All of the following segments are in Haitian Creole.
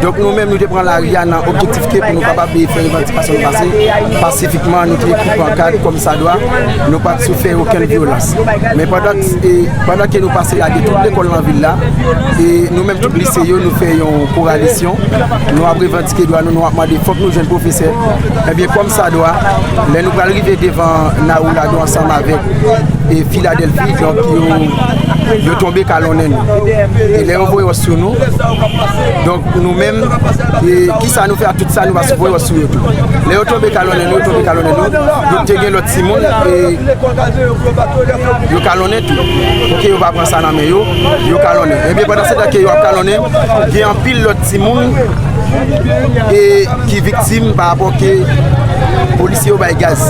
Donk nou menm nou te pran lari a nan objektif ke pou nou kapab fè revandikasyon nou pase pasifikman, nou te ekri pankad kòmsadwa, nou pa t sou fè okenn vyolans. Men pandan ke nou pase lage tout lekòl nan vil la, e nou menm tout lise yo nou fè yon koralisyon, nou ap revandike dwa nou, nou ap mande fòk nou jwenn pwofesè, ebyen kòmsadwa lè nou pral rive devan Nawonago ansanm avèk Filadèlfi, donk yo tonbe kalonnen nou, e lè yo voye wòch sou nou. Donk nou menm, kisa nou fè ak tout sa nou pa sipoze wè sou YouTube? Lè yo tonbe kalonnen nou, yo tonbe kalonnen nou, donk te gen lòt timoun e yo kalonnen tou. Pou ke yo pa pran sa nan men yo, yo kalonnen. Ebyen, pandan se tan ke yo ap kalonnen, gen anpil lòt timoun e ki viktim pa rapò ke polisye yo bay gaz.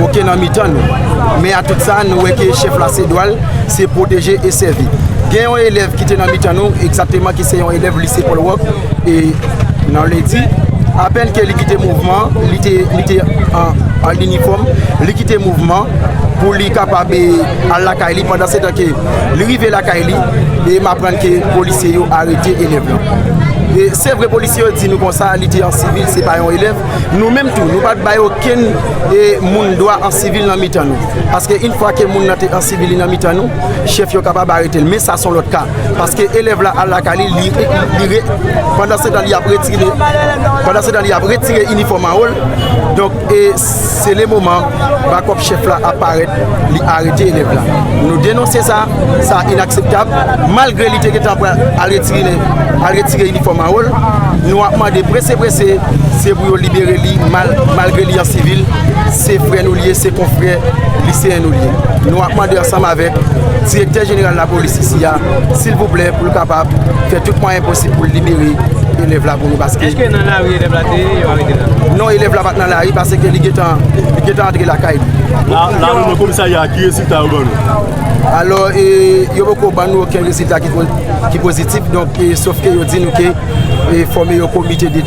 Ok nan mitan nou. Men a tout sa, nou wè ke chèf la se dwal. se pwoteje e sèvi. Gen yon elèv ki te nan mitan nou, egzakteman ki se yon elèv lise Paul Roch, e nan lendi, apèn ke li kite mouvman, li te an inifòm, li kite mouvman pou li kapab al lakay li, pandan se tan ke li rive lakay li, e m aprann ke polisye yo arete elèv lan. Se vre polisye yo di nou konsa, li te an sivil, se pa yon elèv, Nou menm tou, nou pa t bay okenn moun dwa an sivil nan mitan nou. Paske in fwa ke moun nan te an sivil li nan mitan nou, chèf yo kapab arete l. Men sa son lòt ka. Paske elèv la al lakay li, li re, pandan se tan li ap retire, pandan se tan li ap retire inifòm anwo l, donk e se le moman. Bakòp chèf la ap parèt, li arete elèv la. Nou denonse sa, sa inakseptab. Malgre li te gentan pral al retire inifòm mawon l, nou ap mande prese prese, se pou yo libere li malgre li an sivil, se frè nou li ye, se konfrè liseyen nou li ye. Nou ap mande ansanm avèk Direktè Jeneral Lapolis isi a, silvouplè pou l kapab fè tout mwayen posib pou l libere elèv la pou nou paske. Eske nan lari elèv la te ye, yo arete l la? Non, elèv la pa t nan. nan lari paseke li gentan li gentan antre lakay li. Nan reunion komisarya a ki rezilta yo ban nou? Alò e yo poko ban nou oken rezilta ki pozitif donk e sof ke yo di nou ke e fòme yon komite de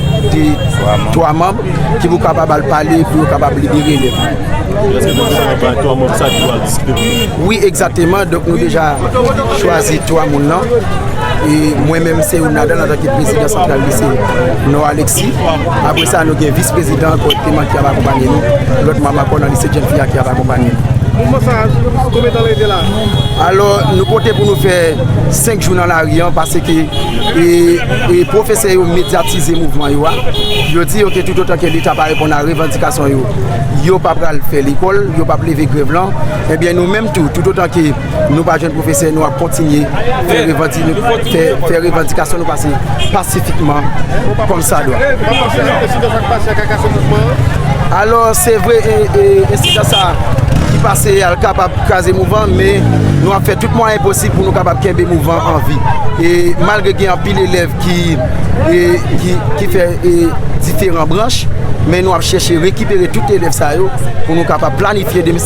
3 manb ki pou kapab al pale pou yo kapab libere elèv yo. Eske nou deja bay 3 manb sa ki pou al diskite pou nou? Wi egzateman donk nou deja chwazi 3 moun nan e mwen menm se youn ladan antanke prezidan santral lise Nò Aleksi. Apre sa, nou gen Vis Prezidan Akò Eteman ki ap akonpanye nou, lòt manm Akò nan Lise Jèn Fi a ki ap akonpanye nou. Mouvman sa a, konbyen tan lè rete la a? Alò, nou konte pou nou fè 5 jou nan lari an paseke pwofesè yo medyatize mouvman yo a. Yo di yo ke toutotan ke Leta pa reponn a revandikasyon yo, yo pa pral fè lekòl, yo pa p leve grèv lan. Ebyen, nou menm tou, toutotan ke. Nou pa jwenn pwofesè, nou ap kontinye fè revandikasyon nou pase pasifikman kòm sa dwa. Alò, se vre, ensidan sa ki pase a kapab kraze mouvan, men nou ap fè tout mwayen posib pou nou kapab kenbe mouvan an vi. E malgre gen anpil elèv ki fè diferan branch, men nou ap chèche rekipere tout elèv sa yo pou nou kapab planifye 2017.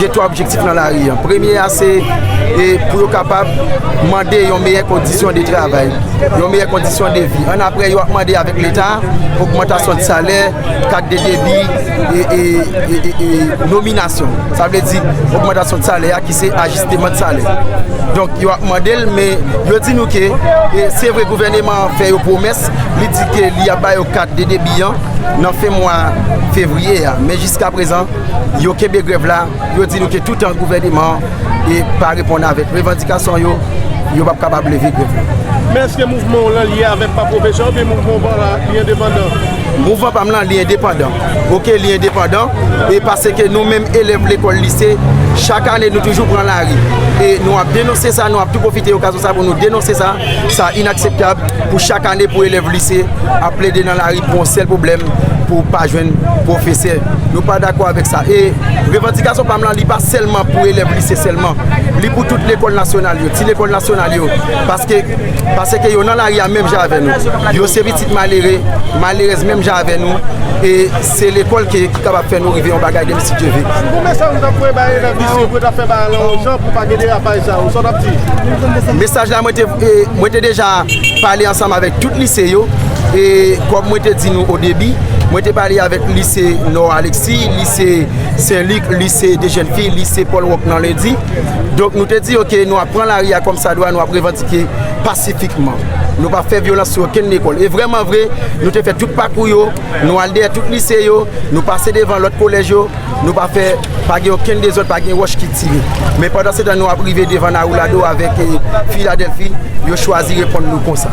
Gen 3 objektif nan lari an. Premye a se pou yo kapab mande yon meyè kondisyon de travay, yon meyè kondisyon de vi. An apre yo ap mande avèk leta ogmantasyon de salè, kat de debi e nominasyon. Sa vle di ogmantasyon de salè a ki se ajisteman de salè. Donk yo ap mande l men yo di nou ke se vre gouvèneman an fè yo pwomès, li di ke li ap ba yo kat de debi an nan fen mwa fevriye a men jiska prezan. Yo kenbe grèv la, yo di nou ke toutan gouvèneman an pa reponn avèk revandikasyon yo, yo p ap kapab leve grèv la. Men eske mouvman w lan lye avèk pa pwofesè oubyen mouvman w pa lan li endepandan? Mouvman pa m lan li endepandan. Ok li endepandan e paseke nou menm elèv lekòl lise chak ane nou toujou pran lari e nou ap denonse sa, nou ap tou pwofite okazyon sa pou nou denonse sa, sa inakseptab pou chak ane pou elèv lise ap plede nan lari pou yon sèl pwoblèm pou pa jwenn pwofesè. Nou pa dakò avèk sa. E revandikasyon pa m lan li pa sèlman pou elèv lise sèlman. Li pou tout lekòl nasyonal yo, ti lekòl nasyonal yo. Paske, paseke yo nan lari a menm jan avè nou. Yo se pitit malere, malerèz menm jan avè nou. E se lekòl ke ki kapab fè nou rive yon bagay demen si Dye ve. Si gon mesaj ou ta voye bay elèv lise pou yo ta fè bagay lan yon jan pou pa gen derapaj sa yo, sa w tap di? Mesaj la mwen te, mwen te deja pale ansanm avèk tout lise yo. E kòm mwen te di nou odebi. Mwen te pale avèk lise Nò Aleksi, lise Sen Lik, lise de jèn fi, lise Pòl Wòk nan Lendi. Donk nou te di yo ke nou ap pran lari a kòm sa dwa, nou ap revandike pasifikman. Nou pa fè vyolans sou okenn lekòl. E vrèman vre, nou te fè tout pakou yo, nou al dèyè tout lise yo, nou pase devan lòt kolèj yo, nou pa fè, pa gen okenn dezòd, pa gen wòch ki tire. Men pandan se tan nou ap rive devan Nawoulado avèk Filadèlfi, yo chwazi reponn nou konsa.